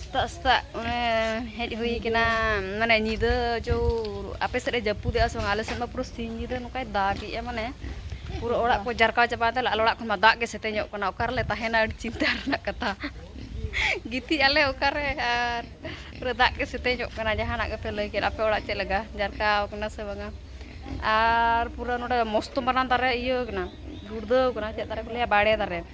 ᱥᱮᱛᱟᱜ ᱥᱮᱛᱟᱜ ᱚᱱᱮ ᱦᱮᱡ ᱦᱩᱭ ᱠᱟᱱᱟ ᱢᱟᱱᱮ ᱧᱤᱫᱟᱹ ᱪᱚ ᱟᱯᱮ ᱥᱮᱫ ᱮ ᱡᱟᱹᱯᱩᱫᱮᱜᱼᱟ ᱥᱮ ᱵᱟᱝ ᱟᱞᱮ ᱥᱮᱫ ᱢᱟ ᱯᱩᱨᱟᱹ ᱥᱤᱧ ᱧᱤᱫᱟᱹ ᱱᱚᱝᱠᱟᱭ ᱫᱟᱜᱮᱜᱼᱟ ᱢᱟᱱᱮ ᱯᱩᱨᱟᱹ ᱚᱲᱟᱜ ᱠᱚ ᱡᱟᱨᱠᱟᱣ ᱪᱟᱵᱟᱭᱮᱱ ᱛᱟᱞᱮ ᱟᱞᱮ ᱚᱲᱟᱜ ᱠᱷᱚᱱ ᱢᱟ ᱫᱟᱜ ᱜᱮ ᱥᱮᱛᱮᱧᱚᱜ ᱠᱟᱱᱟ ᱚᱠᱟ ᱨᱮᱞᱮ ᱛᱟᱦᱮᱱᱟ ᱟᱹᱰᱤ ᱪᱤᱱᱛᱟᱹ ᱨᱮᱱᱟᱜ ᱠᱟᱛᱷᱟ ᱜᱤᱛᱤᱡ ᱟᱞᱮ ᱚᱠᱟᱨᱮ ᱟᱨ ᱯᱩᱨᱟᱹ ᱫᱟᱜ ᱜᱮ ᱥᱮᱛᱮᱧᱚᱜ ᱠᱟᱱᱟ ᱡᱟᱦᱟᱱᱟᱜ ᱜᱮᱯᱮ ᱞᱟᱹᱭ ᱠᱮᱫ ᱟᱯᱮ ᱚᱲᱟᱜ ᱪᱮᱫ ᱞᱮᱠᱟ ᱡᱟᱨᱠᱟᱣ ᱠᱟᱱᱟ ᱥᱮ ᱵᱟᱝᱟ ᱟᱨ ᱯᱩᱨᱟᱹ ᱱᱚᱰᱮ ᱢᱚᱥᱛᱚ ᱢᱟᱨᱟᱝ ᱫᱟᱨᱮ ᱤᱭᱟᱹ ᱠᱟᱱᱟ ᱜᱩᱲᱫᱟᱹᱣ ᱠᱟᱱᱟ ᱪᱮᱫ ᱫᱟᱨᱮ ᱠᱚ ᱞᱟᱹᱭᱟ ᱵᱟᱲᱮ ᱫᱟᱨᱮ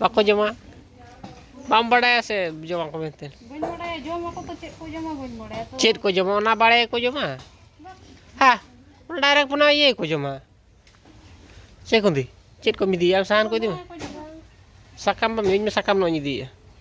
ᱵᱟᱠᱚ ᱡᱚᱢᱟ ᱵᱟᱢ ᱵᱟᱲᱟᱭᱟ ᱥᱮ ᱡᱚᱢᱟ ᱠᱚ ᱢᱮᱱᱛᱮ ᱪᱮᱫ ᱠᱚ ᱡᱚᱢᱟ ᱚᱱᱟ ᱵᱟᱲᱟᱭ ᱠᱚ ᱡᱚᱢᱟ ᱦᱮᱸ ᱚᱱᱟ ᱰᱟᱭᱨᱮᱠᱴ ᱚᱱᱟ ᱤᱭᱟᱹ ᱠᱚ ᱡᱚᱢᱟ ᱪᱮᱫ ᱠᱚ ᱤᱫᱤ ᱪᱮᱫ ᱠᱚᱢ ᱤᱫᱤᱭᱟ ᱥᱟᱦᱟᱱ ᱠᱚ ᱤᱫᱤ ᱢᱮ ᱥᱟᱠᱟᱢ ᱵᱟᱢ ᱤᱫᱤᱭᱟ ᱤᱧ ᱢᱟ ᱥᱟᱠᱟᱢ ᱦᱟᱸᱜ ᱤᱧ ᱤᱫᱤᱭᱮᱫᱼᱟ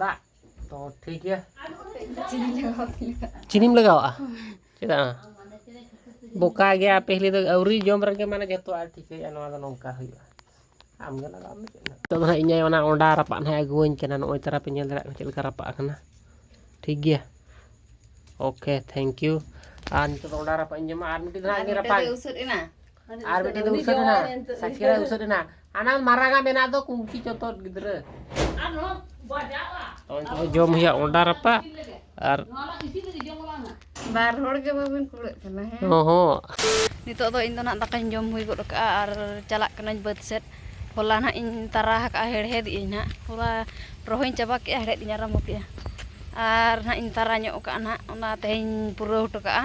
ᱫᱟᱜ ᱛᱚ ᱴᱷᱤᱠ ᱜᱮᱭᱟ ᱪᱤᱱᱤᱢ ᱞᱟᱜᱟᱣᱟᱜᱼᱟ ᱪᱮᱫᱟᱜ ᱵᱚᱠᱟ ᱜᱮᱭᱟ ᱯᱮᱦᱞᱮ ᱫᱚ ᱟᱹᱣᱨᱤ ᱡᱚᱢ ᱨᱮᱜᱮ ᱢᱟᱱᱮ ᱡᱚᱛᱚ ᱟᱨ ᱴᱷᱤᱠᱟᱹᱭᱟ ᱱᱚᱣᱟ ᱫᱚ ᱱᱚᱝᱠᱟ ᱦᱩᱭᱩᱜᱼᱟ ᱟᱢᱜᱮ ᱞᱟᱜᱟᱣ ᱢᱮ ᱪᱮᱫ ᱱᱤᱛᱚᱜ ᱫᱚ ᱦᱟᱸᱜ ᱤᱧ ᱚᱱᱟ ᱚᱸᱰᱟ ᱨᱟᱯᱟᱜ ᱱᱟᱦᱟᱜ ᱟᱹᱜᱩᱣᱟᱹᱧ ᱠᱟᱱᱟ ᱱᱚᱜᱼᱚᱭ ᱛᱟᱨᱟ ᱯᱮ ᱧᱮᱞ ᱫᱟᱲᱮᱭᱟᱜ ᱠᱟᱱᱟ ᱪᱮᱫ ᱞᱮᱠᱟ ᱨᱟᱯᱟᱜ ᱟᱠᱟᱱᱟ ᱴᱷᱤᱠ ᱜᱮᱭᱟ ᱳᱠᱮ ᱛᱷᱮᱝᱠ ᱭᱩ ᱟᱨ ᱱᱤᱛᱚᱜ ᱫᱚ ᱚᱸᱰᱟ ᱨᱟᱯᱟᱜ ᱤᱧ ᱡᱚᱢᱟ ᱟᱨ ᱢᱤᱫᱴᱤᱡ ᱫᱚ ᱦᱟᱸᱜ ᱤᱧ ᱨᱟᱯᱟᱜ ᱟᱨ ᱢᱤᱫᱴᱤᱡ ᱫᱚ ᱩᱥᱟᱹᱫ ᱮᱱᱟ ᱥᱟᱠᱥᱮᱥ ᱩᱥᱟᱹᱫ ᱮᱱᱟ ᱟᱱᱟ ᱢᱟᱨᱟᱜᱟ ᱢᱮᱱᱟ ᱫᱚ ᱠᱩᱝᱠᱤ ᱡᱚᱛᱚ ᱜᱤᱫᱽᱨᱟᱹ ᱡᱚᱢ ᱦᱩᱭᱟ ᱚᱰᱟᱨ ᱟᱯᱟ ᱟᱨ ᱵᱟᱨ ᱦᱚᱲ ᱜᱮ ᱵᱟᱵᱤᱱ ᱠᱩᱲᱟᱹᱜ ᱠᱟᱱᱟ ᱦᱮᱸ ᱦᱚ ᱱᱤᱛᱚᱜ ᱫᱚ ᱤᱧ ᱫᱚ ᱱᱟᱜ ᱫᱟᱠᱟᱧ ᱡᱚᱢ ᱦᱩᱭ ᱜᱚᱫ ᱠᱟᱜᱼᱟ ᱟᱨ ᱪᱟᱞᱟᱜ ᱠᱟᱹᱱᱟᱹᱧ ᱵᱟᱹᱫᱽ ᱥᱮᱫ ᱦᱚᱞᱟ ᱱᱟᱜ ᱤᱧ ᱛᱟᱨᱟ ᱟᱠᱟᱜᱼᱟ ᱦᱮᱲᱦᱮᱫ ᱤᱧ ᱱᱟᱜ ᱦᱚᱞᱟ ᱨᱚᱦᱚᱭ ᱪᱟᱵᱟ ᱠᱮᱜᱼᱟ ᱦᱮᱲᱦᱮᱫ ᱤᱧ ᱟᱨᱟᱢᱵᱚ ᱠᱮᱜᱼᱟ ᱟᱨ ᱱᱟᱜ ᱤᱧ ᱛᱟᱨᱟ ᱧᱚᱜ ᱠᱟᱜᱼᱟ ᱱᱟᱜ ᱚᱱᱟ ᱛᱮᱦᱮᱧ ᱯᱩᱨᱟᱹᱣ ᱦᱚᱴᱚ ᱠᱟᱜᱼᱟ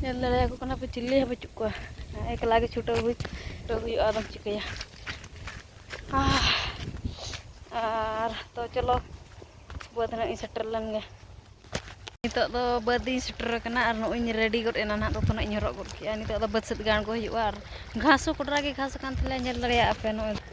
ᱧᱮᱞ ᱫᱟᱲᱮᱭᱟᱠᱚ ᱠᱟᱱᱟ ᱯᱮ ᱪᱤᱞᱤ ᱦᱚᱸ ᱵᱟᱹᱪᱩᱜ ᱠᱚᱣᱟ ᱮᱠᱞᱟ ᱜᱮ ᱪᱷᱩᱴᱟᱹᱣ ᱦᱩᱭ ᱪᱷᱩᱴᱟᱹᱣ ᱦᱩᱭᱩᱜᱼᱟ ᱟᱫᱚᱢ ᱪᱤᱠᱟᱹᱭᱟ ᱟᱨ ᱛᱚ ᱪᱚᱞᱚ ᱵᱟᱹᱫᱽ ᱦᱟᱸᱜ ᱤᱧ ᱥᱮᱴᱮᱨ ᱞᱮᱱ ᱜᱮ ᱱᱤᱛᱚᱜ ᱫᱚ ᱵᱟᱹᱫᱽ ᱤᱧ ᱥᱮᱴᱮᱨ ᱟᱠᱟᱱᱟ ᱟᱨ ᱱᱚᱜᱼᱚᱭ ᱤᱧ ᱨᱮᱰᱤ ᱜᱚᱫ ᱮᱱᱟ ᱱᱟᱦᱟᱜ ᱫᱚᱛᱚ ᱱᱟᱦᱟᱜ ᱤᱧ ᱦᱚᱨᱚᱜ ᱜᱚᱫ ᱠᱮᱫᱼᱟ ᱱᱤᱛᱚᱜ ᱫᱚ ᱵᱟᱹᱫᱽ ᱥᱮᱫ ᱜᱮ ᱟᱬᱜᱚ ᱦᱩᱭᱩᱜᱼᱟ ᱟᱨ ᱜᱷᱟᱥ ᱦᱚᱸ ᱠᱚᱰᱨᱟ ᱜᱮ ᱜᱷᱟᱥ ᱟᱠᱟᱱ ᱛᱟᱞᱮᱭᱟ ᱧᱮᱞ ᱫᱟᱲᱮᱭᱟᱜᱼᱟ ᱯᱮ ᱱᱚᱜᱼᱚᱭ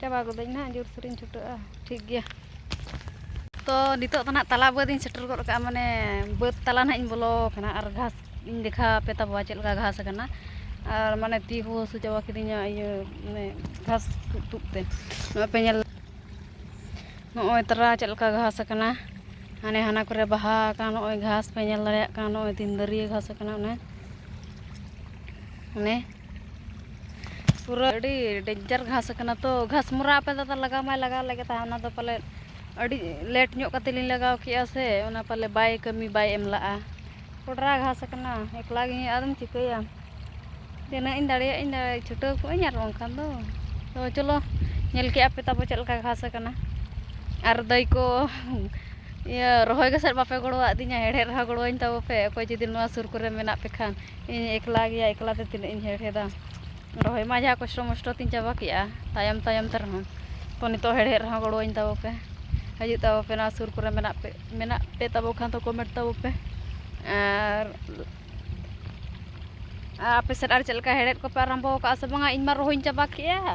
ᱪᱟᱵᱟ ᱜᱚᱫᱟᱹᱧ ᱱᱟᱦᱟᱜ ᱡᱳᱨ ᱥᱳᱨᱤᱧ ᱪᱷᱩᱴᱟᱹᱜᱼᱟ ᱴᱷᱤᱠ ᱜᱮᱭᱟ ᱛᱚ ᱱᱤᱛᱚᱜ ᱫᱚ ᱱᱟᱦᱟᱜ ᱛᱟᱞᱟ ᱵᱟᱹᱫᱽ ᱤᱧ ᱥᱮᱴᱮᱨ ᱜᱚᱫ ᱠᱟᱜᱼᱟ ᱢᱟᱱᱮ ᱵᱟᱹᱫᱽ ᱛᱟᱞᱟ ᱱᱟᱦᱟᱜ ᱤᱧ ᱵᱚᱞᱚ ᱟᱠᱟᱱᱟ ᱟᱨ ᱜᱷᱟᱥ ᱤᱧ ᱫᱮᱠᱷᱟᱣ ᱟᱯᱮ ᱛᱟᱵᱚᱣᱟ ᱪᱮᱫ ᱞᱮᱠᱟ ᱜᱷᱟᱥ ᱟᱠᱟᱱᱟ ᱟᱨ ᱢᱟᱱᱮ ᱛᱤ ᱠᱚ ᱦᱟᱹᱥᱩ ᱪᱟᱵᱟ ᱠᱤᱫᱤᱧᱟ ᱤᱭᱟᱹ ᱢᱟᱱᱮ ᱜᱷᱟᱥ ᱛᱩᱫ ᱛᱩᱫ ᱛᱮ ᱱᱚᱜᱼᱚᱭ ᱯᱮ ᱧᱮᱞ ᱱᱚᱜᱼᱚᱭ ᱛᱟᱨᱟ ᱪᱮᱫ ᱞᱮᱠᱟ ᱜᱷᱟᱥ ᱟᱠᱟᱱᱟ ᱦᱟᱱᱮ ᱦᱟᱱᱟ ᱠᱚᱨᱮ ᱵᱟᱦᱟ ᱟᱠᱟᱱ ᱱᱚᱜᱼᱚᱭ ᱜᱷᱟᱥ ᱯᱮ ᱧᱮᱞ ᱫᱟᱲᱮᱭᱟᱜ ᱠᱟᱱ ᱱᱚᱜᱼᱚᱭ ᱛᱤᱱ ᱫᱟᱹᱨᱭᱟᱹ ᱜᱷᱟᱥ ᱟᱠᱟᱱᱟ ᱚᱱᱮ ᱚᱱᱮ ᱯᱩᱨᱟᱹ ᱟᱹᱰᱤ ᱰᱮᱧᱡᱟᱨ ᱜᱷᱟᱥ ᱟᱠᱟᱱᱟ ᱛᱚ ᱜᱷᱟᱥᱢᱚᱨᱟ ᱟᱯᱮ ᱫᱟᱫᱟ ᱞᱟᱜᱟᱣ ᱢᱟᱭ ᱞᱟᱜᱟᱣ ᱞᱮᱜᱮ ᱛᱟᱦᱮᱸᱫ ᱚᱱᱟ ᱫᱚ ᱯᱟᱞᱮ ᱟᱹᱰᱤ ᱞᱮᱴ ᱧᱚᱜ ᱠᱟᱛᱮ ᱞᱤᱧ ᱞᱟᱜᱟᱣ ᱠᱮᱜᱼᱟ ᱥᱮ ᱚᱱᱟ ᱯᱟᱞᱮ ᱵᱟᱭ ᱠᱟᱹᱢᱤ ᱵᱟᱭ ᱮᱢ ᱞᱟᱜᱼᱟ ᱠᱚᱰᱨᱟ ᱜᱷᱟᱥ ᱟᱠᱟᱱᱟ ᱮᱠᱞᱟ ᱜᱮ ᱟᱫᱚᱢ ᱪᱤᱠᱟᱹᱭᱟ ᱛᱤᱱᱟᱹᱜ ᱤᱧ ᱫᱟᱲᱮᱭᱟᱜ ᱤᱧ ᱪᱷᱩᱴᱟᱹᱣ ᱠᱚᱜ ᱟᱹᱧ ᱟᱨ ᱵᱟᱝᱠᱷᱟᱱ ᱫᱚ ᱛᱚ ᱪᱚᱞᱚ ᱧᱮᱞ ᱠᱮᱜᱼᱟ ᱯᱮ ᱛᱟᱵᱚ ᱪᱮᱫ ᱞᱮᱠᱟ ᱜᱷᱟᱥ ᱟᱠᱟᱱᱟ ᱟᱨ ᱫᱟᱹᱭ ᱠᱚ ᱤᱭᱟᱹ ᱨᱚᱦᱚᱭ ᱜᱮᱥᱮᱫ ᱵᱟᱯᱮ ᱜᱚᱲᱚᱣᱟᱫᱤᱧᱟ ᱦᱮᱲᱦᱮᱫ ᱨᱮᱦᱚᱸ ᱜᱚᱲᱚᱣᱟᱹᱧ ᱛᱟᱵᱚ ᱯᱮ ᱚᱠᱚᱭ ᱡᱩᱫᱤ ᱱᱚᱣᱟ ᱥᱩᱨ ᱠᱚᱨᱮ ᱢᱮᱱᱟᱜ ᱯᱮ ᱠᱷᱟᱱ ᱤᱧ ᱮᱠᱞᱟ ᱜᱮᱭᱟ ᱮᱠᱞᱟ ᱛᱮ ᱛᱤᱱᱟᱹᱜ ᱤᱧ ᱦᱮᱲᱦᱮᱫᱟ ᱨᱚᱦᱚᱭ ᱢᱟ ᱡᱟᱦᱟᱸ ᱠᱚᱥᱴᱚ ᱢᱚᱥᱴᱚ ᱛᱤᱧ ᱪᱟᱵᱟ ᱠᱮᱜᱼᱟ ᱛᱟᱭᱚᱢ ᱛᱟᱭᱚᱢ ᱛᱮ ᱨᱮᱦᱚᱸ ᱛᱚ ᱱᱤᱛᱚᱜ ᱦᱮᱲᱦᱮᱫ ᱨᱮᱦᱚᱸ ᱜᱚᱲᱚᱣᱟᱹᱧ ᱛᱟᱵᱚ ᱯᱮ ᱦᱤᱡᱩᱜ ᱛᱟᱵᱚ ᱯᱮ ᱱᱚᱣᱟ ᱥᱩᱨ ᱠᱚᱨᱮ ᱢᱮᱱᱟᱜ ᱯᱮ ᱢᱮᱱᱟᱜ ᱯᱮ ᱛᱟᱵᱚ ᱠᱷᱟᱱ ᱫᱚ ᱠᱚᱢᱮᱱᱴ ᱛᱟᱵᱚ ᱯᱮ ᱟᱨ ᱟᱯᱮ ᱥᱮᱫ ᱟᱨ ᱪᱮᱫ ᱞᱮᱠᱟ ᱦᱮᱲᱦᱮᱫ ᱠᱚᱯᱮ ᱟᱨᱟᱢᱵᱚ ᱠᱟᱜᱼᱟ ᱥᱮ ᱵᱟᱝᱟ ᱤᱧ ᱢᱟ ᱨᱚᱦᱚᱭ ᱤᱧ ᱪᱟᱵᱟ ᱠᱮᱜᱼᱟ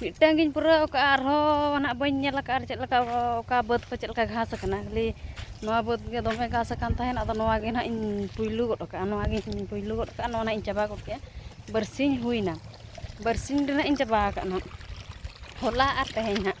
ᱢᱤᱫᱴᱟᱝ ᱜᱤᱧ ᱯᱩᱨᱟᱹᱣ ᱠᱟᱜᱼᱟ ᱟᱨᱦᱚᱸ ᱱᱟᱦᱟᱜ ᱵᱟᱹᱧ ᱧᱮᱞ ᱟᱠᱟᱫᱼᱟ ᱟᱨ ᱪᱮᱫ ᱞᱮᱠᱟ ᱚᱠᱟ ᱵᱟᱹᱫᱽ ᱠᱚ ᱪᱮᱫ ᱞᱮᱠᱟ ᱜᱷᱟᱥ ᱟᱠᱟᱱᱟ ᱠᱷᱟᱹᱞᱤ ᱱᱚᱣᱟ ᱵᱟᱹᱫᱽ ᱜᱮ ᱫᱚᱢᱮ ᱜᱷᱟᱥ ᱟᱠᱟᱱ ᱛᱟᱦᱮᱱ ᱟᱫᱚ ᱱᱚᱣᱟ ᱜᱮ ᱱᱟᱦᱟᱜ ᱤᱧ ᱯᱩᱭᱞᱩ ᱜᱚᱫ ᱠᱟᱜᱼᱟ ᱱᱚᱣᱟ ᱜᱮ ᱤᱧ ᱯᱩᱭᱞᱩ ᱜᱚᱫ ᱠᱟᱜᱼᱟ ᱱᱚᱣᱟ ᱱᱟᱦᱟᱜ ᱤᱧ ᱪᱟᱵᱟ ᱜᱚᱫ ᱠᱮᱜᱼᱟ ᱵᱟᱨᱥᱤᱧ ᱦᱩᱭᱱᱟ ᱵᱟᱨᱥᱤᱧ ᱨᱮᱱᱟᱜ ᱤᱧ ᱪᱟᱵᱟ ᱟᱠᱟᱫᱼᱟ ᱱᱟᱦᱟᱜ ᱦᱚᱞᱟ ᱟᱨ ᱛᱮᱦᱮᱧ ᱦᱟᱸᱜ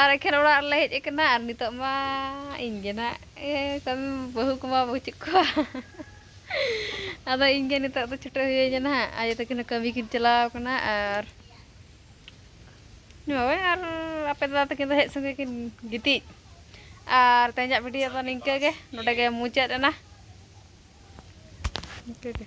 ᱟᱨ ᱮᱠᱷᱮᱱ ᱚᱲᱟᱜ ᱨᱮᱞᱮ ᱦᱮᱡ ᱟᱠᱟᱱᱟ ᱟᱨ ᱱᱤᱛᱚᱜ ᱢᱟ ᱤᱧ ᱜᱮ ᱱᱟᱜ ᱠᱟᱹᱢᱤ ᱵᱟᱹᱦᱩ ᱠᱚᱢᱟ ᱵᱟᱹᱪᱩᱜ ᱠᱚᱣᱟ ᱟᱫᱚ ᱤᱧ ᱜᱮ ᱱᱤᱛᱚᱜ ᱫᱚ ᱪᱷᱩᱴᱟᱹᱣ ᱦᱩᱭᱟᱹᱧᱟ ᱱᱟᱦᱟᱜ ᱟᱭᱳ ᱛᱟᱹᱠᱤᱱ ᱦᱚᱸ ᱠᱟᱹᱢᱤ ᱠᱤᱱ ᱪᱟᱞᱟᱣ ᱟᱠᱟᱱᱟ ᱟᱨ ᱦᱳᱭ ᱟᱨ ᱟᱯᱮ ᱫᱟᱫᱟ ᱛᱟᱹᱠᱤᱱ ᱫᱚ ᱦᱮᱡ ᱥᱚᱸᱜᱮ ᱠᱤᱱ ᱜᱤᱛᱤᱡ ᱟᱨ ᱛᱮᱦᱮᱧᱟᱜ ᱵᱷᱤᱰᱤᱭᱳ ᱫᱚ ᱱᱤᱝᱠᱟᱹ ᱜᱮ ᱱᱚᱰᱮ ᱜᱮ ᱢᱩᱪᱟᱹᱫ ᱮᱱᱟ ᱱᱤᱝᱠᱟᱹ ᱜᱮ